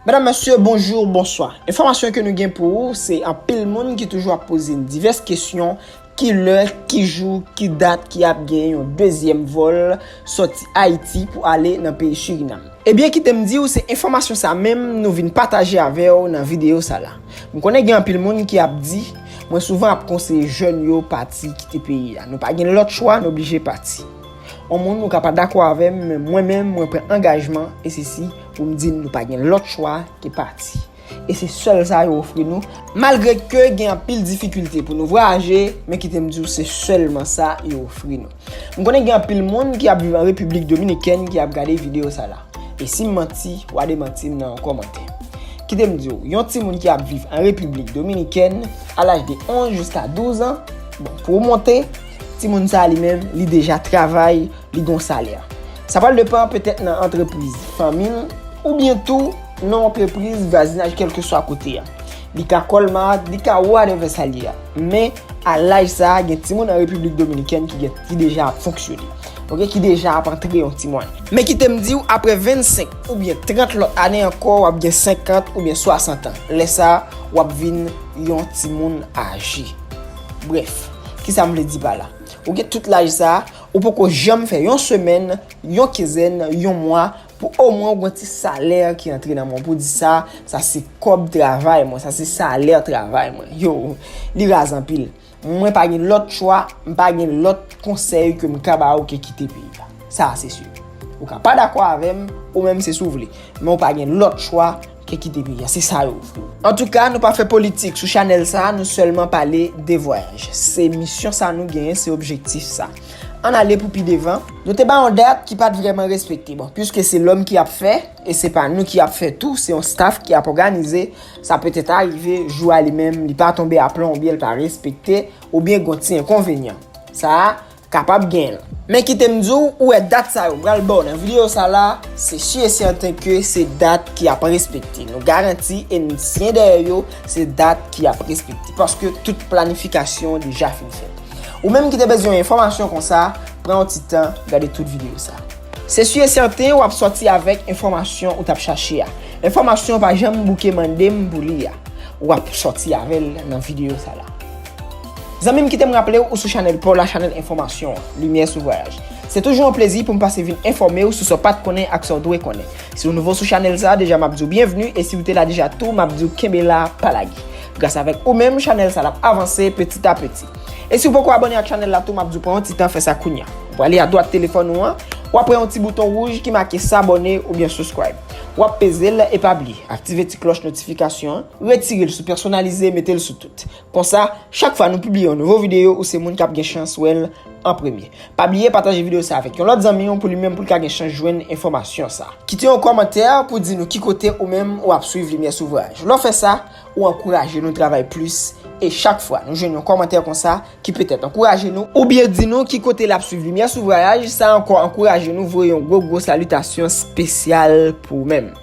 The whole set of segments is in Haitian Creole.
Medam mesye bonjour bonswa enfòmasyon ke nou gen pou ou se anpil moun ki toujou ap poze n divès kesyon ki lè ki jou ki dat ki ap gen yon dezyèm vòl sòti ayiti pou ale nan peyi Suriname. Ebyen kitem diw se enfòmasyon sa menm nou vin pataje avèw nan videyo sa la m konnen gen anpil moun ki ap di mwen souvan ap konseye jèn yo pati kite peyi a nou pa gen lòt chwa nou oblije pati on moun ou ka pa dakò avèm men mwen menm mwen pran angajman e sesi pou m di n nou pa gen lòt chwa ke pati e se sèl sa yo ofri nou malgre ke gen anpil difikilte pou nou vwayaje men kite m di w se sèlman sa yo ofri nou m konnen gen anpil moun ki ap viv an Repiblik Dominikèn ki ap gade videyo sa la e si m manti wa demanti m nan yon kòmantè kite m di w yon timoun ki ap viv an Repiblik Dominikèn a laj de 11 jiska 12 an bon pou w monte timoun sa li menm li deja travay li gon salè. Sa pral depan petèt nan antrepriz fanmi l ou byen tou nan antrepriz vwazinaj kelke swa kote a. Li ka Colmart, li ka whatever sa l ye a. Men, a laj sa a gen timoun an Repiblik Dominikèn ki gen ki deja ap fonksyone. Ok, ki deja ap antre yon ti mwayen. Men kite m di w aprè 25 ou byen 30 lòt ane ankò w ap gen 50 ou byen 60 an. Lè sa a, w ap vin yon timoun aje. Brèf, kisa m vle di pa la? Ou gen tout laj sa a, Ou poko janm fè yon semèn, yon kinzèn, yon mwa pou omwen ou gwen ti salè ki antre nan men w pou w di sa, sa se kòb travay mwen, sa se salè travay mwen. Yo, li raz anpil. Mwen pa gen lòt chwa, m pa gen lòt konsèy ke m ka ba ou ke kite peyi a. Sa a se si. Ou ka pa dakò avè m, ou menm se si w vle. Men ou pa gen lòt chwa. Ke kite peyi a se sa yo vle. Antouka nou pa fè politik sou chanèl sa nou sèlman pale de vwayaj se misyon sa nou genyen se objektif sa ann ale pou pi devan. Nou te ba yon dat ki pat vrèman respekte bon pwiske se lòm ki ap fè e se pa nou ki ap fè tou se yon staf ki ap òganize sa petèt arive jou a li menm li pa tonbe a plon oubyen li pa respekte oubyen gon ti enkonvenyan sa Kapab gen. Men kite m di w, ou wè dat sa yo m pral ba w nan videyo sa la, se si e sèten ke se dat ki ap respekte. Nou garanti e n siyen dèyè yo, se dat ki ap respekte. Paske tout planifikasyon deja fin fèt. Ou menm ki te bezwen enfòmasyon konsa, pran yon ti tan, gade tout videyo sa. Se si e sèten w ap sòti avèk enfòmasyon ou t ap chache a. Enfòmasyon pa janm bouke mande m pou li a. Ou ap sòti avè l nan videyo sa la. Zanmim kitem raplew ou sou chanèl paw la chanèl enfòmasyon an, limyè sou vwayaj. Se toujou yon plezi poum pase vin enfòmew sou sa w pat konnen ak sa w dwe konnen. Si w nouvo sou chanèl sa deja map diw byenvni e siw te la deja tou map diw kenbe la pa lage. Gras avèk ou menm chanèl sa lap avanse peti a peti. E siw poko abòne ak chanèl la tou map diw pran yon ti tan fè sa kounya. Ou prale adwat telefòn ou an, wap wè yon ti bouton wouj ki make sabòne oubyen subscribe. Wap pezel e pa bliye aktive ti klòch notifikasyon an, retirel sou pèsonalize metel sou tout. Konsa, chak fwa nou pibliye yon nouvo videyo, ou se moun kap gen chans wèl an premye. Pa bliye pataje videyo sa avèk yon lòt zanmi w pou li menm poul ka gen chans jwenn enfòmasyon sa. Kite yon kòmantè pou di nou ki kote ou menm ou ap swiv Limyè Souvraj. Lè w fè sa, ou ankouraje nou travay plis e chak fwa nou jwenn yon kòmantè konsa ki petèt ankouraje nou, oubyen di nou ki kote lap swiv Limyè Souvraj, sa ankò ankouraje nou voye yon gwo gwo salitasyon spesyal pou ou menm.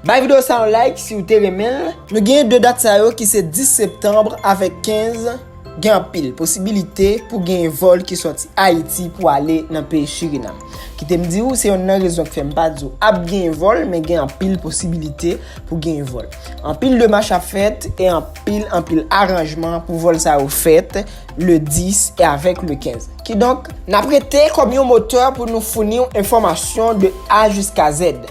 Bay video sa yon like si ou te renmen l. Nou genyen 2 dat sa yo ki se 10 septanbre avèk 15, gen anpil posibilite pou genyen vòl ki sòti Ayiti pou ale nan peyi Surinam. Kite m di ou se yonn nan rezon ki fè m pa di ou ap genyen vòl men gen anpil posibilite pou genyen vòl. Anpil demach ap fèt e anpil anpil aranjman pou vòl sa yo fèt le 10 e avèk le 15. Kidonk. N ap rete kòm yon motè pou nou founi ou enfòmasyon de A jiska Z.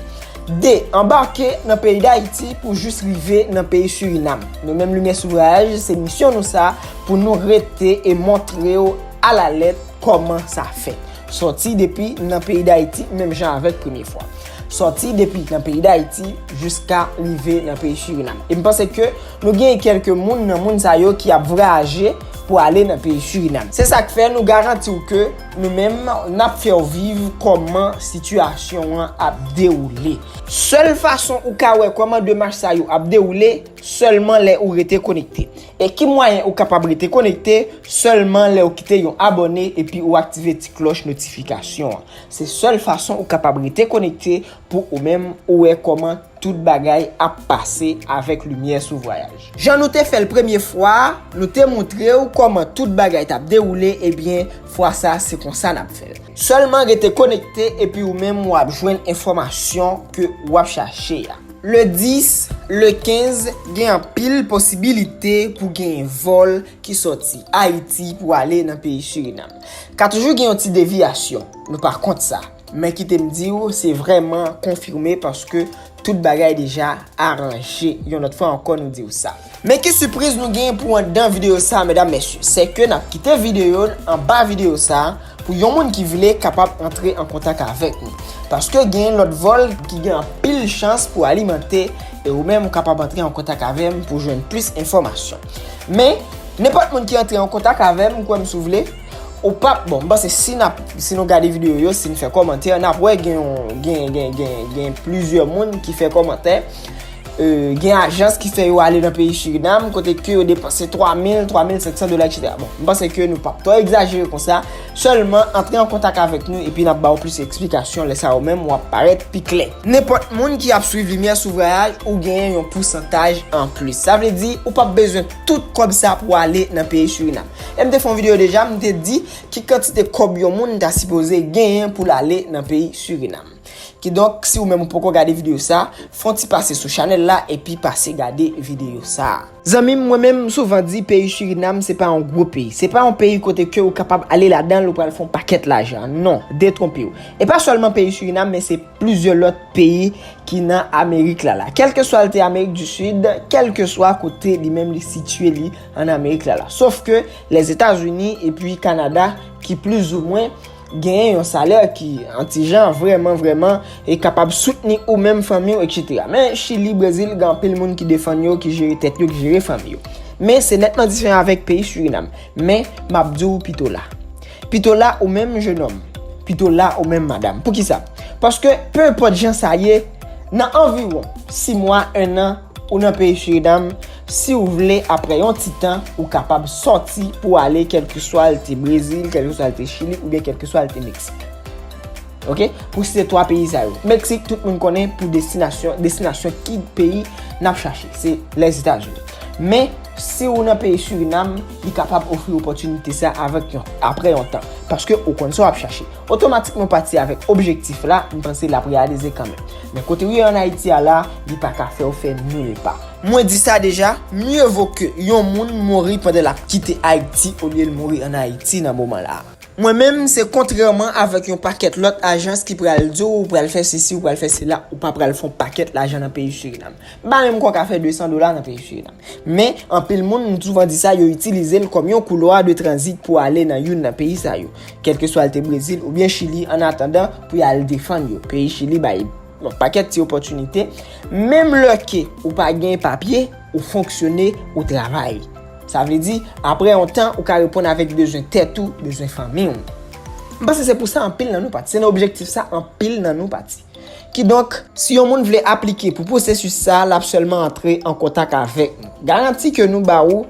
2. Anbake nan peyi Dayiti pou jis rive nan peyi Surinam. Nou menm Limyè sou Vwayaj, se misyon nou sa pou nou rete e montre w alalèt kòman sa fèt. Sòti depi nan peyi Dayiti menm jan avèk premye fwa. Sòti depi nan peyi Dayiti jiska rive nan peyi Surinam. E m panse ke nou genyen kèlke moun nan moun sa yo ki ap vwayaje pou ale nan peyi Surinam. Se sa k fè nou garanti w ke. Nou menm nap fèw viv kòman sitiyasyon an ap dewoule. Sèl fason ou ka wè kòman demach sa yo ap dewoule sèlman lè ou rete konekte. E ki mwayen ou kapab rete konekte sèlman lèw kite yon abòne epi ou aktive ti klòch notifikasyon an. Se sèl fason ou kapab rete konekte pou ou menm ou wè kòman. Tout bagay ap pase avèk limyè sou vwayaj. Jan nou te fèl premye fwa a, nou te moutrew kòman tout bagay tap dewoule ebyen fwa sa se konsa nap fèl. Sèlman rete konekte epi ou menm wap jwenn enfòmasyon ke wap chache a. Le 10, le 15 gen anpil posibilite pou genyen vòl ki sòti Ayiti pou ale nan peyi Surinam. Ka toujou gen yon ti deviyasyon, nou pa kont sa. Men kite m di ou, se vrèman konfime paske tout bagay deja aranje. Yon lòt fwa ankò nou di ou sa. Men ki sipriz nou genyen pou anndan videyo sa medam mesye. Se ke n ap kite videyo n anba videyo sa pou yon moun ki vle kapab antre an kontak avèk nou. Paske genyen lòt vòl ki gen anpil chans pou alimante e ou menm ou kapab antre an kontak avè m pou jwenn plis enfòmasyon. Men, nenpòt moun ki antre an kontak avè m, kwè m si w vle. Ou pap bon, m panse si nap, si nou gade video yo, si n fè kòmantè, nap wè gen yon, gen, gen, gen, gen plizyè moun ki fè kòmantè, euh, gen ajans ki fè yo ale nan peyi Suriname, kote ke yo depanse 3000, 3500 dola etc. Bon, m panse ke nou pap twò egzajere konsa, sèlman antre an kontak avèk nou epi nap ba ou plis eksplikasyon, lè sa ou menm wap parèt pi klè. Nenpòt moun ki ap swiv Limyè sou Vwayaj ou genyen yon pousantaj anplis. Sa vle di, ou pap bezwen tout kòb sa pou ale nan peyi Suriname. Em te fè yon video deja m te di ki kantite kòb yon moun ta sipoze genyen pou l ale nan peyi Suriname. Kidonk si ou menm ou poko gade video sa, fè yon ti pase sou chanèl la epi pase gade video sa. Zanmi m mwen menm m souvan di peyi Suriname se pa yon gwo peyi. Se pa yon peyi kote ke ou kapab ale ladan l ou pral fè yon pakèt lajan. Non, detwonpe w. E pa sèlman peyi Suriname men se plizyè lòt peyi ki nan Amerik la la. Kèlkeswa l te Amerik di Sid, kèlkeswa kote li menm li sitye li. an Amerik la la. Sof ke Lèzetazini epi Kanada ki plizoumwen genyen yon salè ki antijan vreman vreman e kapab soutni ou menm fanmi ou eksetera. Men Chili, Brezil gen anpil moun ki defann yo, ki jere tèt yo, ki jere fanmi yo. Men se netman diferan avèk peyi Surinam. Men m ap di ou pito la. Pito la ou menm jenòm. Pito la ou menm madam. Poukisa? Paske pe enpòt jan sa ye, nan anviwon 6 mwa, 1 an, Ou nan peyi Surinam, si ou vle aprè yon ti tan, ou kapab sòti pou w ale kèlkeswa l te Brezil, kèlkeswa l te Chili oubyen kèlkeswa l te Meksik. Ok, pou site 3 peyi sa yo. Meksik, tout moun konnen pou destinasyon, destinasyon ki peyi n ap chache, se Lèzetazini. Men, si ou nan peyi Surinam, li kapab ofri opòtinite sa avèk yon, aprè yon tan. Paske ou konn sa w ap chache. Otomatikman pati avèk objektif la, m panse l ap reyalize kanmenm. Men kote ou ye an Ayiti a la, li pa ka fè ou fè mil pa. Mwen di sa deja, mye vo ke yon moun mouri pandan l ap kite Ayiti olye l mouri an Ayiti nan moman la. Mwen menm, se kontrèman avèk yon pakèt lòt ajans ki pral di w ou pral fè sesi, ou pral fè sela, ou pa pral fè yon pakèt lajan nan peyi Surinam. M pa menm kwè w ka fè 200 dola nan peyi Surinam. Men, anpil moun, m souvan di sa, yo itilize l kòm yon koulwa de tranzit pou ale nan youn nan peyi sa yo, kèlkeswa l te Brezil oubyen Chili, annatandan pou y al defann yo. Peyi Chili bay yon pakèt ti opòtinite, menm lè ke ou pa gen papye, ou fonksyone, ou travay. Sa vle di, apre yon tan, ou ka reponn avèk bezwen tèt ou, bezwen fanmi w. M panse se pou sa anpil nan nou pati. Se nan objektif sa anpil nan nou pati. Kidonk, si yon moun vle aplike pou pwosesis sa a, l ap sèlman antre an kontak avèk nou. Garanti ke nou ba ou,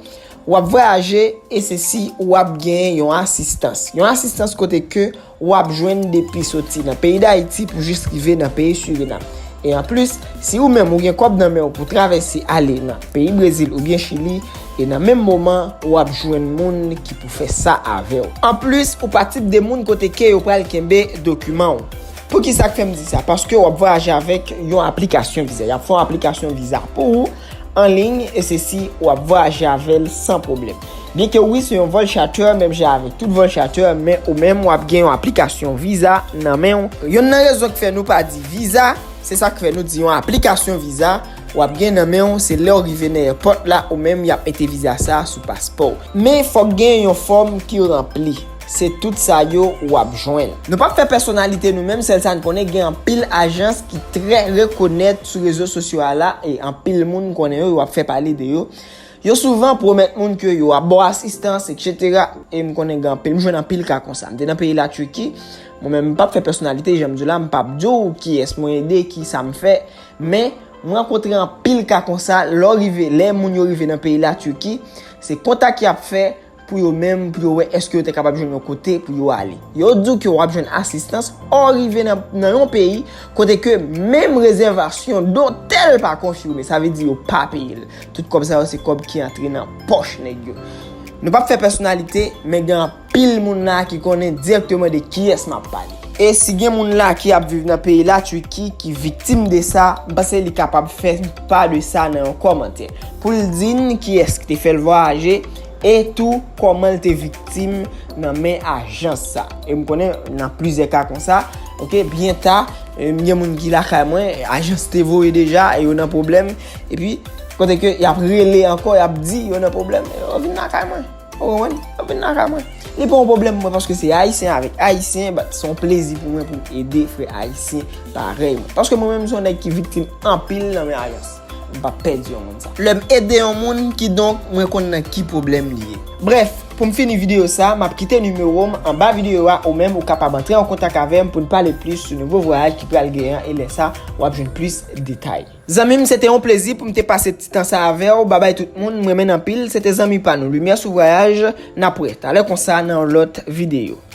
w ap vwayaje e se si ou ap genyen yon asistans. Yon asistans kote ke ou ap jwenn depi soti nan peyi Dayiti pou jis rive nan peyi Surinam. E anplis, si ou menm ou gen kòb nan men ou pou travèse ale nan peyi Brezil oubyen Chili, e nan menm moman ou ap jwenn moun ki pou fè sa avè ou. Anplis, ou pa tip de moun kote ke yo pral kenbe dokiman ou. Poukisa k fè m di sa? Paske w ap vwayaje avèk yon aplikasyon viza. Y ap fè yon aplikasyon viza pou ou an liy e se si w ap vwayaje avè l san pwoblèm. Byen ke wi se yon vòl chatè menm jan avèk tout vòl chatè men ou menm w ap gen yon aplikasyon viza nan men w. Yonn nan rezon k fè nou pa di viza, se sa k fè nou di yon aplikasyon viza, w ap gen nan men w se lè w rive nan èpòt la ou menm y ap mete viza sa a sou paspò w. Men fòk gen yon fòm ki ranpli. Se tout sa yo ou ap jwenn. Nou pap fè pèsonalite nou menm sèl sa n konnen gen anpil ajans ki trè rekonèt sou rezo sosyo a la e anpil moun konnen yo, yo ap fè pale de yo. Yo souvan pwomèt moun ke yo ap ba w asistans etc. E m konnen gen anpil, m jwenn anpil ka konsa. M te nan peyi la Turki, mwen menm m pap fè pèsonalite jan m di w la, m pap di w kiyès mwen ede, ki sa m fè, men m rankontre anpil ka konsa lè w rive, lè moun yo rive nan peyi la Turki, se kontak y ap fè, pou yo menm pou yo wè èske yo te kapab jwenn yon kote pou yo ale. Yo di w ke w ap jwenn asistans ò rive nan yon peyi kote ke menm rezèvasyon dotèl pa konfime. Sa vle di yo pa peye l. Tout kòb sa yo se kòb ki antre nan pòch nèg yo. Nou p ap fè pèsonalite, men gen anpil moun la ki konnen dirèkteman de kiyès m ap pale. E si gen moun la ki ap viv nan peyi la Turki ki viktim de sa, m panse li kapab fè n pa de sa nan yon kòmantè. Pou l di n kiyès ki te fè l vwayaje. E tou kòman l te viktim nan men ajans sa. E m konnen nan plizyè ka konsa. Ok, byen ta, m gen moun ki lakay mwen, ajans te voye deja, e yo nan pwoblèm. E pi, kote ke y ap rele ankò, y ap di yo nan pwoblèm, e yo vin lakay mwen. Ou konprann? Yo vin lakay mwen. Li pa yon pwoblèm pou mwen paske se Ayisyen avèk Ayisyen, bat se yon plezi pou mwen pou m ede frè Ayisyen parèy mwen. Paske mwen menm m se yon nèg ki viktim anpil nan men ajans. M pap pèdi yon moun sa. Lè m ede yon moun, kidonk mwen konn nan ki pwoblèm li ye. Brèf, pou m fini videyo sa, m ap kite nimewo m anba videyo a ou menm ou kapab antre an kontak avè m pou n pale plis sou nouvo vwayaj ki pral gen an e lè sa w ap jwenn plis detay. Zanmi m, se te yon plezi pou m te pase ti tan sa avè w. Babay tout moun, m renmen n anpil. Se te zanmi pa nou Limyè sou Vwayaj. N ap wè talè konsa nan yon lòt videyo.